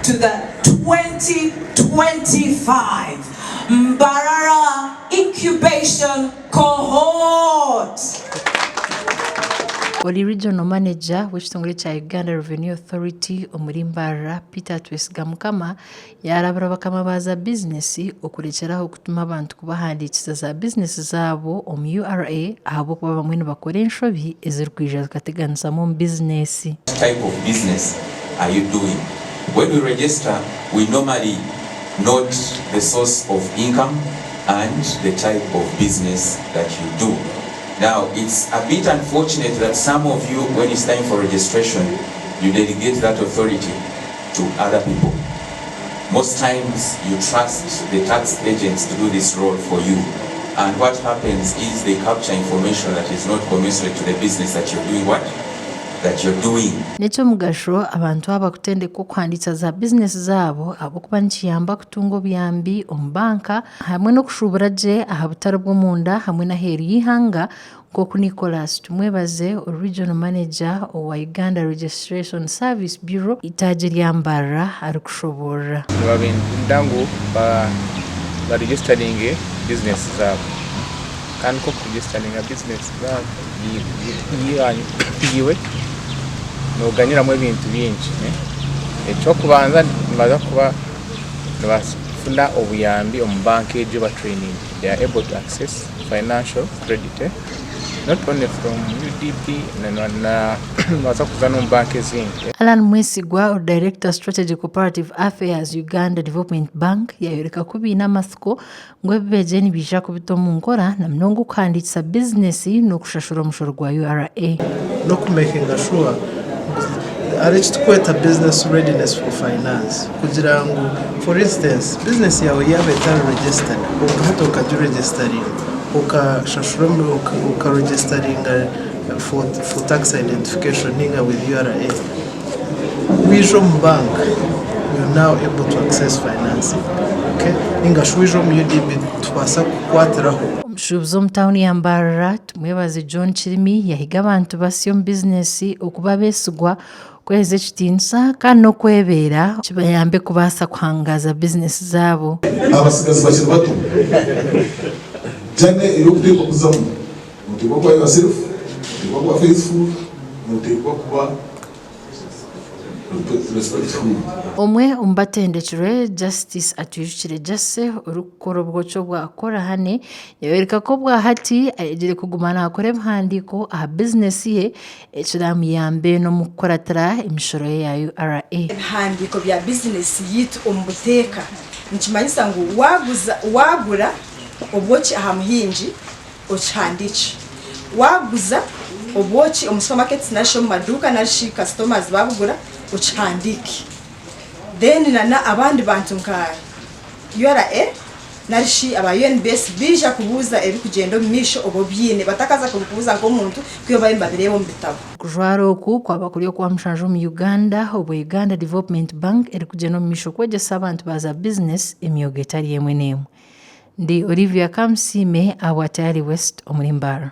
to the 2025 Mbarara Incubation Cohort. Ori Regional Manager w'ekitongore kya Uganda Revenue Authority omuri Mbarara, Peter Twesigamukama, yaarabura bakama ba za bizinesi okurekyera aho Tuma abantu kubahandiikiza za bizineesi zaabo omu ura ahabw'okuba abamwe nibakora enshobi ezirikwija zikateganisamu omu bizineesi. type of business are you doing when we register we normally note the source of income and the type of business that you do now it's a bit unfortunate that some of you when it's time for registration you delegate that authority to other people most times you trust the tax agents to do this role for you and what happens is they capture information that is not commiserate to the business that you're doing what? that you're doing. N'ekyomugasho abantu aba kutendekwa okuhandiisa za bizinesi zaabo ahabw'okuba nikiyamba kutunga obuyambi omu banka hamwe n'okushuubura gye aha butare bw'omunda hamwe n'aheeru y'eihanga Nk'oku Nicholas Tumwebaze ori Regional Manager owa Uganda Registration Service Bureau eitaagi rya Mbarara arikushoboorora. Nibabeenda ngu baregisteringe bizineesi zaabo kandi nk'oku kuregisteringa bizineesi yaiwe nooganyiramu ebintu bingi. Eky'okubanza nibabaasa kuba nibafuna obuyambi omu banka egyo ebatereyininge, they are able to access. financial credit not only from UDB nobaasa kuza n'omu banka ezindi. Allan Mwesigwa ori Director Strategy Cooperative Affairs, Uganda Development Bank, yaayoreka ku baine amatsiko ngu ebi beegire nibaija kubita omu nkora na munonga okuhandiikisa bizineesi n'okushashura omushoro gwa URA. Hariho eki turikweta business readiness for finance kugira ngu for instance business yaawe yaaba etari registered kwonka hati okagiregestaringa okashashura okaregestaringa for tax identification ninga with ura waija omu bank you are now able to access financing okay ninga shi waija omu UDB nitubaasa kukukwatiraho. Omushuubuzi omu tauni ya Mbarara. Mwebaze John Kirimi yahiga abantu basya omu bizineesi okuba abeesigwa, kweheza ekitiinisa kandi n'okwebeera kibayambe kubaasa kuhangaaza bizineesi zaabo. Abatsigazi bakiri bato Jane ey'okuteekwa kuzamu nooteekwa kuba yourself, nooteekwa kuba faithful, nooteekwa kuba respectful. Omwe omu batendekirwe Justice Atwijukire Jase orikukora obwoki obwa Korahane Yayoreka ku obwahati ayegire kuguma naakora ebihandiiko aha bizineesi ye ekiraamuyambe n'omukukuratira emishoro ye ya URA. Ebihandiiko bya bizineesi yaitu omu buteeka nikimanyisa ngu waaguza, waagura obwoki aha muhingi okihandiikye, waaguza obwoki omu supermarkets narishi omu maduuka narishi customers baabugura okihandiike then nana abandi bantu nka URA. narishi aba UNBS baija kubuuza ebirikugyenda omu maisho obu obiine, batakaza kubikubuuza nk'omuntu ku iwe baabe nibabireeba omu bitabo. Okujwara oku kwaba kuri okwa mushanju omu Uganda obu Uganda Development Bank erikugyenda omu maisho kwegyesa abantu ba za bizinesi emyoga etari emwe n'emwe. Ndi Olivia Kamusiime ahabwa Tayari West omuri Mbaara.